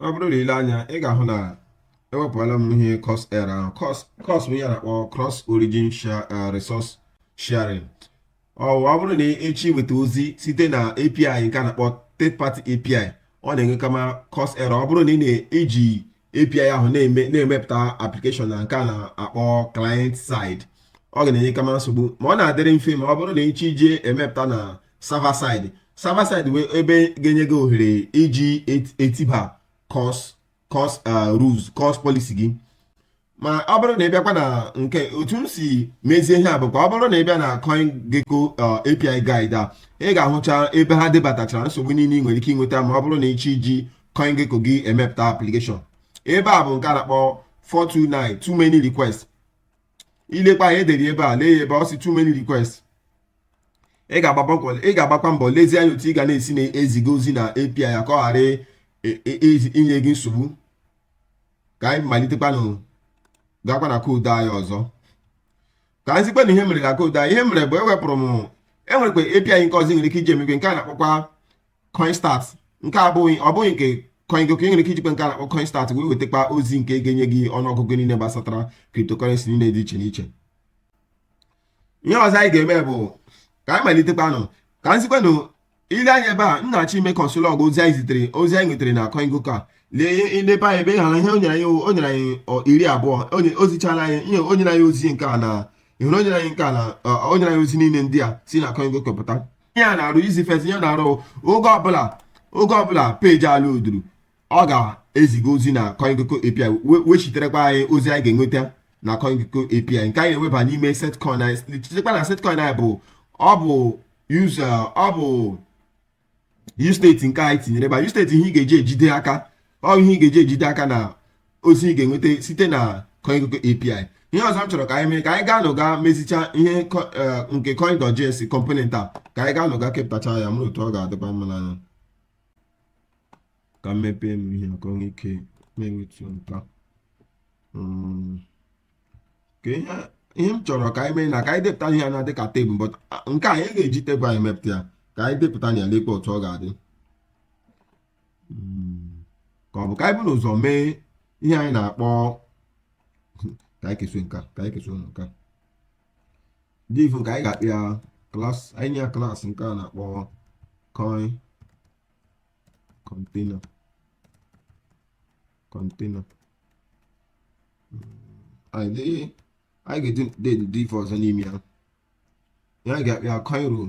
ọ bụrụ na i lee anya ị ga-ahụ na ewepụla m ihe CORS error ahụ CORS bụ ihe a na-akpọ cross origin eh, resource sharing ọ bụrụ na ị chọ iweta ozi site na API nke a na-akpọ third party API ọ na-enwe kama CORS error ọ bụrụ na ị na-eji API ahụ na-eme na-emepụta application na nke a na-akpọ client side ọ ga na-enyekwa m nsogbu ma ọ na-adịrị mfe ma ọ bụrụ na ịchọ iji emepụta na server side server side bụ ebe ga-enye gị ohere iji etiba CORS CORS uh, rules CORS policy gị ma ọ bụrụ na ị bịakwa na nke otu m si mezie ihe a bụkwa ọ bụrụ na ị bịa na CoinGecko uh, API guide a ị ga-ahụcha ebe ha debatachara nsogbu niile ị nwere ike inweta ma ọ bụrụ na ịchọ iji CoinGecko gị emepụta application ebe a bụ nke a na-akpọ 429 too many requests i lekwa ya e dere ebe a lee ya ebe ọ sị too many requests ị ga-agbakwa mbọ lezie anya otu ị ga na-esi na-eziga ozi na API ya ka ọ ghara e, e, e, inye gị nsogbu ka anyị malitekwanụ gakwa na koodu anyị ọzọ ka m zikwa unu ihe m mere na koodu anyị ihe m mere bụ ewepụrụ m e nwerekwa API nke ọzọ i nwere ike iji emekwa nke a na-akpọkwa coinstat nke abụghị ọ bụghị nke CoinGecko ị nwere ike ijikwa nke a na-akpọ coinstat wee wetakwa ozi nke ga-enye gị ọnụọgụgụ niile gbasatara cryptocurrency niile dị iche n'iche ihe ọzọ anyị ga-eme bụ ka anyị malitekwanụ ka m zikwa unu i lee anya ebe a m na-achọ ime console log ozi anyị zitere ozi anyị nwetara na CoinGecko a lee ndebe anyị ebe ị hụrụ ihe o nyere anyị o nyere anyị iri abụọ ozichala anyị ihe o nyere anyị ozi nke a na ị hụrụ o nyere anyị nke a na o nyere anyị ozi niile ndị a si na CoinGecko pụta ihe a na-arụ useEffect ihe ọ na-arụ oge ọbụla oge ọbụla peji a loaduru ọ ga-eziga ozi na CoinGecko API wechiterekwa anyị ozi anyị ga-enweta na CoinGecko API nke anyị na-eweba n'ime setcoin anyị chetakwa na setcoin anyị bụ ọ bụ use ọ bụ use state nke anyị tinyere ebe a use state ihe ị ga-eji ejide aka ọ ihe ị ga-eji ejide aka na ozi ị ga-enweta site na CoinGecko API ihe ọzọ m chọrọ ka anyị mee ka anyị gaanụ gaa mezicha ihe eh, nke coin.js component a ka anyị gaanụ gaa kepụtacha ya mee otu ọ ga-adịkwa mma n'anya ka m mepee m ihe ka o nwee ike na-enwetu nka hmm. ihe m chọrọ ka anyị mee na ka anyị depụta ihe dịka tebụl but ah, nke a anyị agaghị eji tebụl emepụta ya ka anyị depụta ya lekwa otu ọ ga-adị hmm. ka ọ bụ ka anyị buru ụzọ mee ihe anyị na-akpọ ka anyị keso nka ka anyị keso nka div ka anyị ga-akpọ ya class anyị nye ya class nke a na-akpọ coin container container hmm. anyị ga-eji dee div ọzọ n'ime ya ihe anyị ga-akpọ ya coin row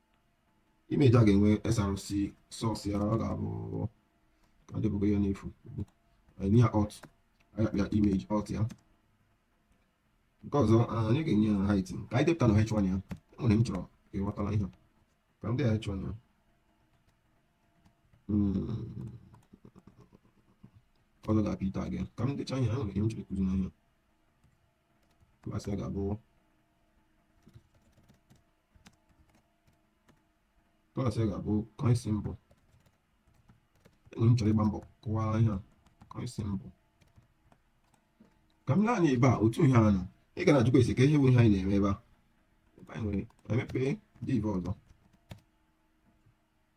image a ga-enwe src source ya ọ ga-abụ ka debụgo ya n'efu nye ya alt anyị akpọ ya image alt ya nke ọzọ anyị ga-enye ya height ka anyị depụta na h1 ya enwere m chọrọ ka ị ghọtara ihe ka m dee h1 ya ọzọ ga-abụ p tag ka m decha ihe enwere ihe m chọrọ ịkụzi n'anya Klaasị a ga-abụ klaasị a ga-abụ coin symbol. Enyi m chọrọ ịgba mbọ kọwaa ihe a coin symbol. Ka m lee anya ebe a otu ihe a nọ ị ga na-ajụkwa sị kee ihe bụ ihe anyị na-eme ebe a ebe anyị nwere emepe div ọzọ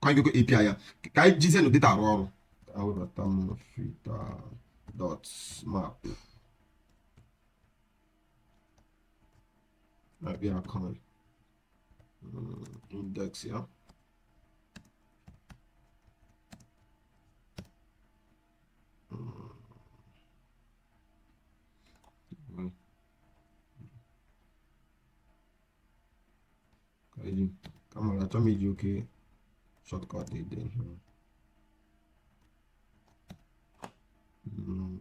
ka anyị gogo API ya ka anyị jizie na data arụ ọrụ ka anyị webata m filter dot map abịa coin index ya ka eji ka mara achọ m iji oke shortcut ede ihe Mm.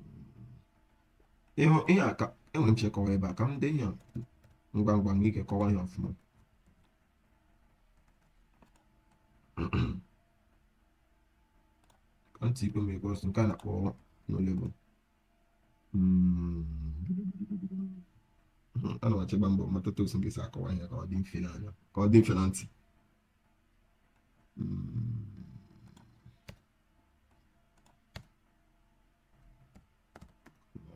ịhụ ihe a ka enwere m chọ ịkọwa ebe a ka m dee ihe a ngwa ngwa nwee ike kọwa ihe ọfụma ka ntị ikpe m ekwe ọsọ nke a na-akpọ no label Hmm. ana m achọ ịgba mbọ mata otu m ga-esi akọwa ihe ka ọ dị mfe n'anya ka ọ dị mfe na ntị hmm.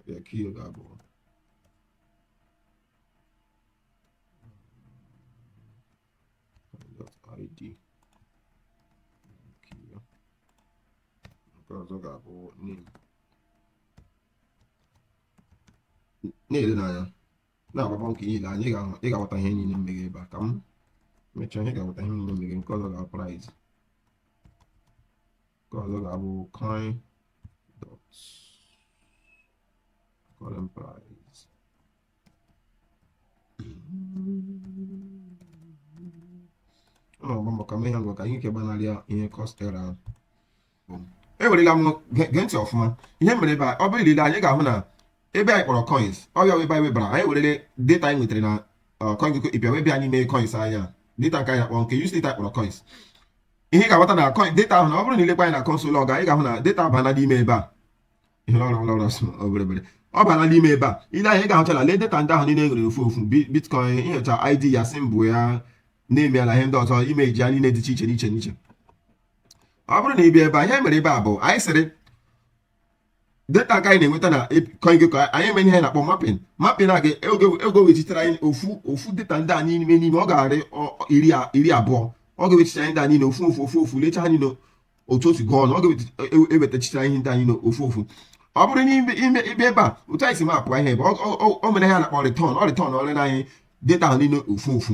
ya ka ihe ga-abụ id nke ọzọ ga-abụ name na-ele n'anya na-agba mbọ ka ị na-ele anya ị ga-aghọta ihe niile m meghe ebe a ka m mechaa ihe ga-aghọta ihe niile m meghe nke ọzọ ga-abụ price nke ọzọ ga-abụ coin dot current price ọ na-agba mbọ ka m mee ya ngwa ka anyị ike gbanarịa ihe CORS error ahụ ewerela m gee ntị ọfụma ihe mere ebe a ọ bụrụ i lee anya ị ga-ahụ na ebe anyị kpọrọ coins ọbịa webe anyị webara anyị werele data anyị nwetara na uh, CoinGecko ịbịa webịa anyị mee coins anya data nke anyị akpọ nke use data kpọrọ coins ihe ị ga-aghọta na coin data ahụ na ọ bụrụ na i lekwa anya na console log anyị ga-ahụ na data abana n'ime ebe a ihe ọrụ ọrụ ọrụ obere obere ọ bara n'ime ebe a i lee anya ị ga-ahụchala lee data ndị ahụ niile nwere ofu ofu bitcoin inyocha id ya symbol ya name ya na ihe ndị ọzọ image ya niile dị iche iche n'iche n'iche ọ bụrụ na ị bịa ebe anyị mere ebe a bụ anyị sịrị data ka anyị na-enweta na CoinGecko anyị eme ihe na-akpọ mapping mapping a ga-ego wechitere anyị ofu ofu data ndị a n'ime n'ime ọ ga-arị iri abụọ ọ ga-ewechitere anyị ndị a niile ofu ofu ofu ofu lecha anya na otu otu gụọ ọnụ ọ ga-ewetachitere anyị ndị anyị na ofu ofu ọ bụrụ n'ime ime ebe ebe a otu anyị si mapụ ihe ebe o mere ya na-akpọ return ọ returnụrụ anyị data ahụ niile ofu ofu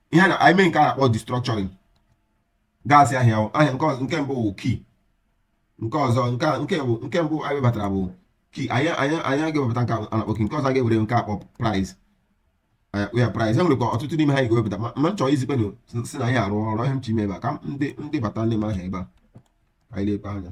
ihe na anyị mee nke a na-akpọ destructuring ga-asị ahịa ahịa nke ọzọ nke mbụ bụ key nke ọzọ nke nke bụ nke mbụ anyị webatara bụ key anyị anyị anyị ga-ewepụta nke a na-akpọ key nke ọzọ a ga-ewere nke akpọ price ya price e nwere ka ọtụtụ n'ime ha ga-ewepụta ma m chọrọ izikpenụ si na anyị arụ ọrụ ihe m chọ ime ebe a ka ndị ndị bata n'ime ahịa ebe a anyị na-ekpe anya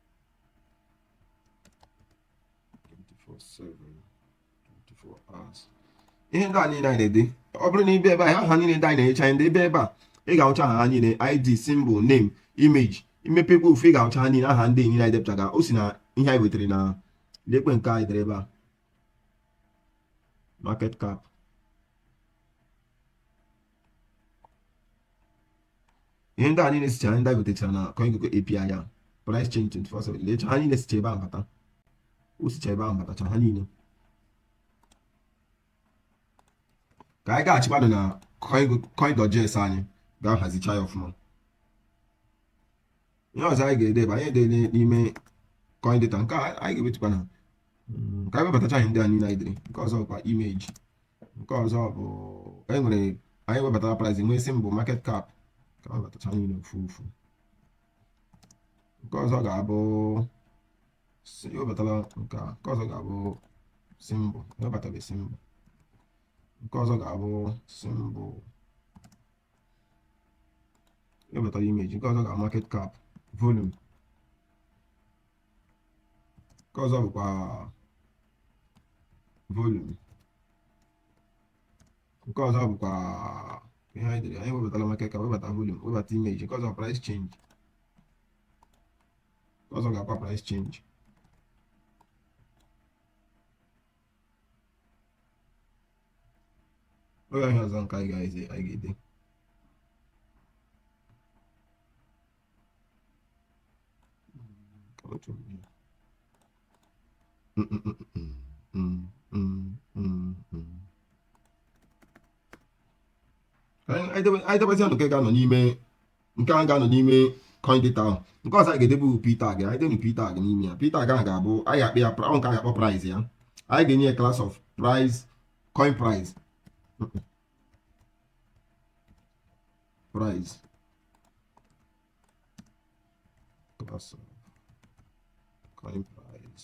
ihe ndị a niile anyị na-ede ọ bụrụ na ị bịa ebe anyị aha niile ndị anyị na-enyecha anyị debe ebe a ị ga-ahụcha aha ha niile id symbol name image i mepekwa ofu ị ga-ahụcha ha niile aha ndị niile anyị depụtara o si na ihe anyị wetara na lekwa nke anyị dere ebe a market cap ihe ndị a niile sicha ndị anyị gotechara na CoinGecko API ya price change 24/7 lecha ha niile sicha ebe ahụ bata o sicha ebe ahụ batacha ha niile ka anyị gaghachikwanụ na Coins.js anyị ga-ahazicha ya ọfụma ihe ọzọ anyị ga-ede bụ anyị ede n'ime coin data nke a anyị ga-ewetukwa na ka anyị webatacha anyị ndị a niile anyị dere nke ọzọ bụkwa image nke ọzọ bụ anyị nwere anyị webatara price nwee symbol market cap ka anyị webatacha niile ofu ofu nke ọzọ ga-abụ webatara nke a nke ọzọ ga-abụ symbol webatabe symbol nke ọzọ ga-abụ symbol webata image nke ọzọ ga market cap volume nke ọzọ bụkwa volume nke ọzọ bụkwa ihe anyị dere anyị webatara market cap webata volume webata image nke ọzọ price change nke ọzọ gakwa price change ọ gaghị ọzọ nke anyị ga-ede anyị ga-ede anyị debezie nke ga-anọ n'ime nke a ga-anọ n'ime coin data ahụ nke ọzọ anyị ga-edebe p tag anyị debe p tag n'ime ya p tag ahụ ga-abụ anyị akpọ ya ahụ nke anyị akpọ price ya anyị ga-enye ya class of price coin price price class of coin price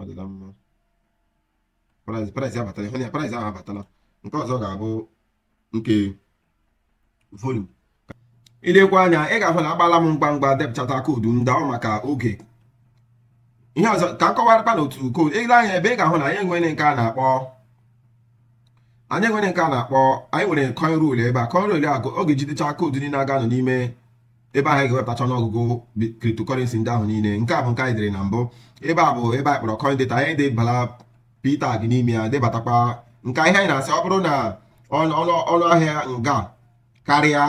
ọ dịla mma price price abatala ihe price ahụ abatala nke ọzọ ga-abụ nke volume i lekwaa anya ị ga-ahụ na agbala m ngwa ngwa depụchata koodu ndị ahụ maka oge ihe ọzọ ka m kọwarakwa na otu koodu i lee anya ebe ị ga-ahụ na anyị nwere nke a na-akpọ anyị nwere nke a na-akpọ anyị nwere coin row ebe a coin row a ọ ga-ejidecha koodu niile ga-anọ n'ime ebe anyị ga-ewepụtacha ọnụọgụgụ cryptocurrency ndị ahụ niile nke a bụ nke anyị dere na mbụ ebe a bụ ebe anyị kpọrọ coin data anyị debala p tag n'ime ya debatakwa nke ihe anyị na-asị ọ bụrụ na ọnụ ahịa nga karịa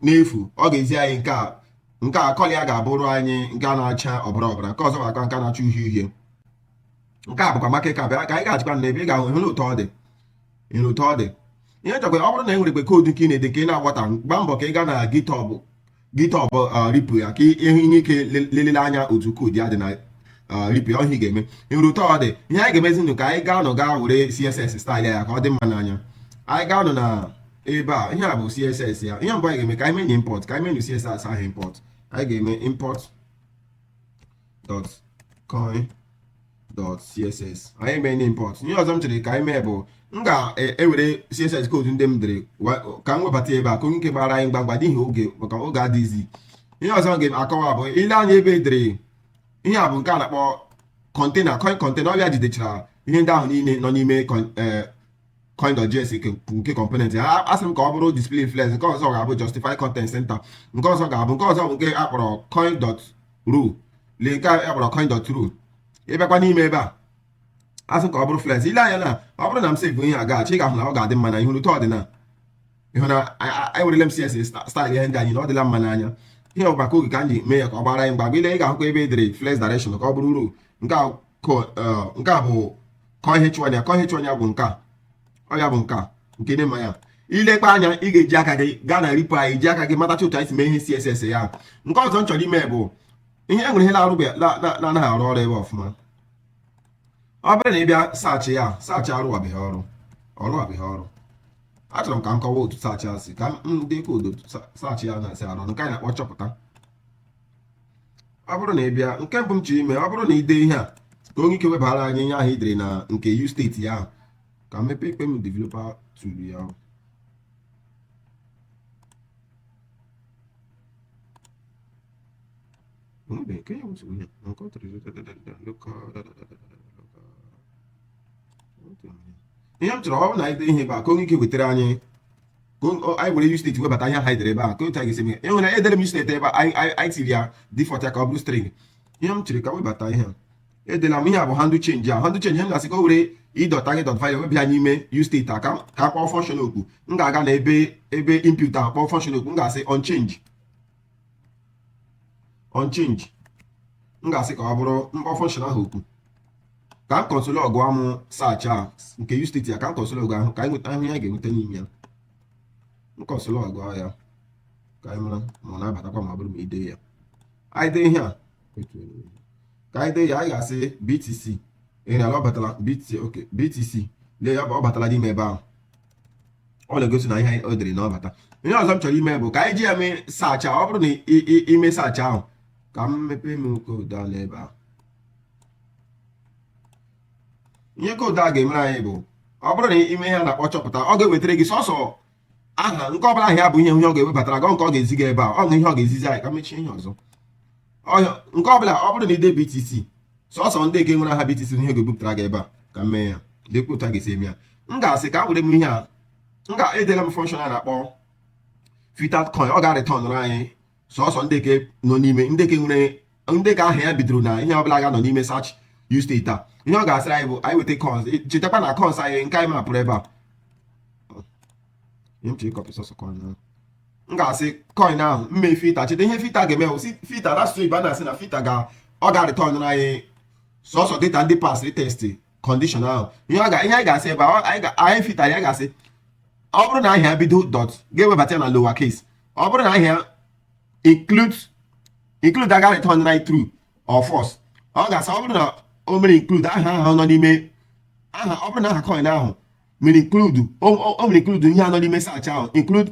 n'efu ọ ga-ezi anyị nke a nke a kọlọ ya ga-abụrụ anyị nke a na-acha ọbara ọbara nke ọzọ bụkwa nke na-acha uhie uhie nke a bụkwa maka ịka bịa ka anyị ga-achịkwa na ebe ị ga-ahụ ị hụrụ otu ọ dị ị hụrụ otu ọ dị ihe ọzọkwa ọ bụrụ na e nwerekwa koodu nke ị na-ede ka ị na-agbata gba mbọ ka ị gaa na github github repo ya ka ị hụ ihe ka i lelee anya otu koodu ya dị na repo ya ọ ihe a ị ga-eme ị hụrụ otu ọ dị ihe anyị ga-emezi bụ ka anyị gaanụ gaa were css staịl ya ka ọ dị mma n'anya anyị gaanụ na ebe a ihe a bụ css ya ihe mbụ anyị ga-eme ka anyị menye import ka anyị menye css ahụ import anyị ga-eme import dot coin dot css anyị mee na import ihe ọzọ m chere ka anyị mee bụ m ga-ewere e, css koodu ndị m dere ka m webata ebe a ka o nwee ike gbara anyị ngwa ngwa n'ihi oge maka oge adịghịzi ihe ọzọ m ga-akọwa bụ i lee anya ebe e dere ihe a bụ nke a na-akpọ kọntena coin kọntena ọ bụ ya jidechara ihe ndị ahụ niile nọ n'ime e, coin.js nke component a asị m ka ọ bụrụ display flex nke ọzọ ga-abụ justify content center nke ọzọ ga-abụ nke ọzọ bụ nke a kpọrọ coin row lee nke a kpọrọ coin row ị bịakwa n'ime ebe a asị m ka ọ bụrụ flex i lee anya na ọ bụrụ na m save ihe a gaghachi ị ga-ahụ na ọ ga-adị mma na ị hụrụ otu ọ dị na ị hụ na ewerela m css style ihe ndị a niile ọ dịla mma n'anya ihe ọ bụ maka oge ka m ji mee ya ka ọ gbara anyị ngwa i lee ị ga-ahụkwa ebe e dere flex direction ka ọ bụrụ row nke nke a bụ kọ ihe chụọ anya kọ ihe chụọ anya bụ nke a ọ ya bụ nke a nke na-eme ya ilekwa anya ị ga-eji aka gị gaa na repo anyị ji aka gị matacha otu anyị si mee ihe css ya nke ọzọ m chọrọ ime bụ ihe e nwere ihe na-arụ na-anaghị arụ ọrụ ebe ọfụma ọ bụrụ na ị bịa search ya search arụwabeghị ọrụ ọ rụwabeghị ọrụ achọrọ m ka m kọwa otu search a si ka m dị ka otu search ya na-esi arụ nke anyị na-akpọ chọpụta ọ bụrụ na ị bịa nke mbụ m chọrọ ime ọ bụrụ na ị dee ihe a ka o nwee ike webara anyị ihe ahụ i dere na nke useState ya ahụ ka m mepekwa m developer tool ya ahụ ihe m chọrọ ọ bụ na ị dee ihe ebe a ka o nwee ike wetara anyị anyị were useState webata ihe anyị dere ebe a ka otu anyị ga-esi mee enwere edere m useState ebe anyị tiri ya default ya ka ọ bụrụ string ihe m chọrọ ka m webata ihe edela m ihe a bụ handle change a handle change m na-asị ka o were e dot target dot value weba ya n'ime useState a ka a kpọọ function oku m ga-aga na ebe ebe input a kpọọ function oku m ga-asị on change on change m ga-asị ka ọ bụrụ m kpọọ function ahụ oku ka m console log m search a nke useState ya ka m console log ka anyị nweta ahụ ya ga-enweta n'ime ya m console log ya ka anyị mara ma ọ na-abatakwa ma ọ bụrụ na ị dee ya anyị dee ihe a ka anyị dee ya anyị ga-asị btc ị hụla ọ batala btc ok btc lee ya ọ batala n'ime ebe ahụ ọ na-egosi na ihe o dere na ọ bata ihe ọzọ m chọrọ ime bụ ka anyị ji ya mee search ọ bụrụ na ị mee search ahụ ka m mepee m code a n'ebe ahụ ihe code a ga-emere anyị bụ ọ bụrụ na ị mee ihe a na-akpọ chọpụta ọ ga-ewetara gị sọsọ aha nke ọbụla aha ya bụ ihe ihe ọ ga-ewebatara gị nke ọ ga-ezi gị ebe a ọ ihe ọ ga-ezizi anyị ka m mechie ihe ọzọ ọhịa nke ọbụla ọ bụrụ na ị dee BTC sọsọ ndị nke nwere aha BTC ihe ga-ebupụtara gị ebe a ka m mee ya dịkwa otu a ga-esi eme ya m ga-asị ka m were m ihe a m ga-edela m function a na-akpọ filtered coin ọ ga-arịtọnụrụ anyị sọsọ ndị nke nọ n'ime ndị nke nwere ndị nke aha ya bidoro na ihe ọbụla ga-anọ n'ime search useState a ihe ọ ga-asịrị anyị bụ anyị weta coins chetakwa na coins anyị nke anyị mapụrụ ebe a ntị ịkọpị sọsọ coin ahụ m ga-asị coin ahụ m mee filter cheta ihe filter ga-eme wụ sị filter n'asụsụ Igbo a na-asị na filter ga ọ ga-arịtọn anyị sọsọ data ndị pasịrị test condition ahụ ihe anyị ga-asị ebe anyị filter ya ga-asị ọ bụrụ na aha ya bido dot ga-ewebata ya na lower case ọ bụrụ na aha ya include include ọ ga-return anyị true or false ọ ga-asị ọ bụrụ na o mere include aha ahụ nọ n'ime aha ọ bụrụ na aha coin ahụ mere include o mere include ihe nọ n'ime search ahụ include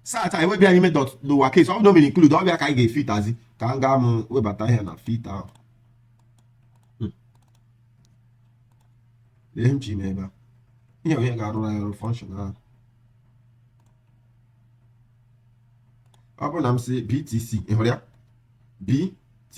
search anyị wee bịa n'ime dot lower case ọ bụrụ na o mere include ọ bịa ka anyị ga-efitazi ka m gaa m webata ihe na filter ahụ hmm. lee m ji ime ebe a ihe onye ga-arụrụ anyị ọrụ function ahụ ọ bụrụ na m sị btc ị hụrụ ya btc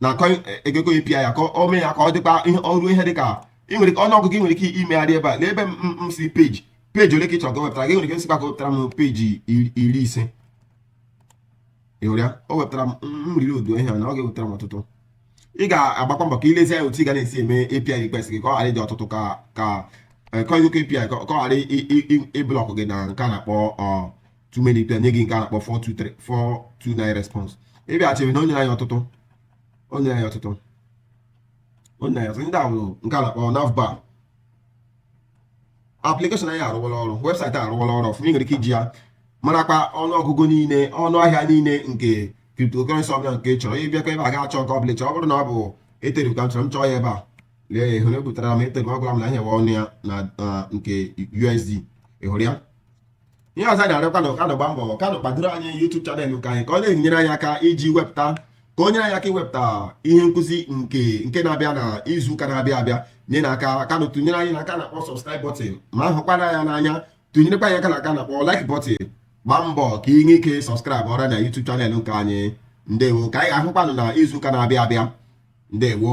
na CoinGecko API ya ka o mee ya ka ọ dịkwa ihe ọrụ ihe dịka ị nwere ọnụ ọgụgụ ị nwere ike imegharị ebe a n'ebe m sị peji peji ole ka ị chọrọ ka o wepụtara gị nwere ike ịsịkwa ka o wepụtara m peji iri ise ị hụrụ ya o wepụtara m riri odu ihe na ọ ga-ewepụtara m ọtụtụ ị ga-agbakwa mbọ ka i lezie anya otu ị ga na-esi eme API request gị ka ọ ghara ịdị ọtụtụ ka ka CoinGecko API ka ọ ghara ịblọkụ gị na nke a na-akpọ too many to enye gị nke a na-akpọ 423 429 response ị bịaghachiri na o nyere anyị ọtụtụ o nyere anyị ọtụtụ o nyere anyị ọtụtụ ndị a bụ nke a na-akpọ navbar application anyị arụwala ọrụ webụsaịtị arụwala ọrụ ọfụma ị nwere ike iji ya marakwa ọnụọgụgụ niile ọnụ ahịa niile nke cryptocurrency ọbụla nke ị chọrọ ị bịakwa ebe a ga achọ nke ọbụla chọọ ọ bụrụ na ọ bụ Ethereum ka m chọrọ m chọọ ya ebe a lee ya ị hụrụ o butara m Ethereum ọ gwara m na ihe ọnụ ya na nke USD ị hụrụ ya ihe ọzọ anyị na-arịọkwa unu ka unu gbaa mbọ ka unu kpadoro anyị YouTube channel nke anyị ka ọ na-enyere anyị aka iji wepụta ka o nyere anyị aka iwepụta ihe nkụzi nke nke na-abịa na izu ụka na-abịa abịa nyenụ aka ka unu tụnyere anyị na nke a na-akpọ subscribe button ma ị hụkwara ya n'anya tụnyerekwa anyị aka na nke a na-akpọ like button gbaa mbọ ka ị nwee ike subscribe ọra na YouTube channel nke anyị ndewo ka anyị ga-ahụkwanụ na izu ụka na-abịa abịa ndewo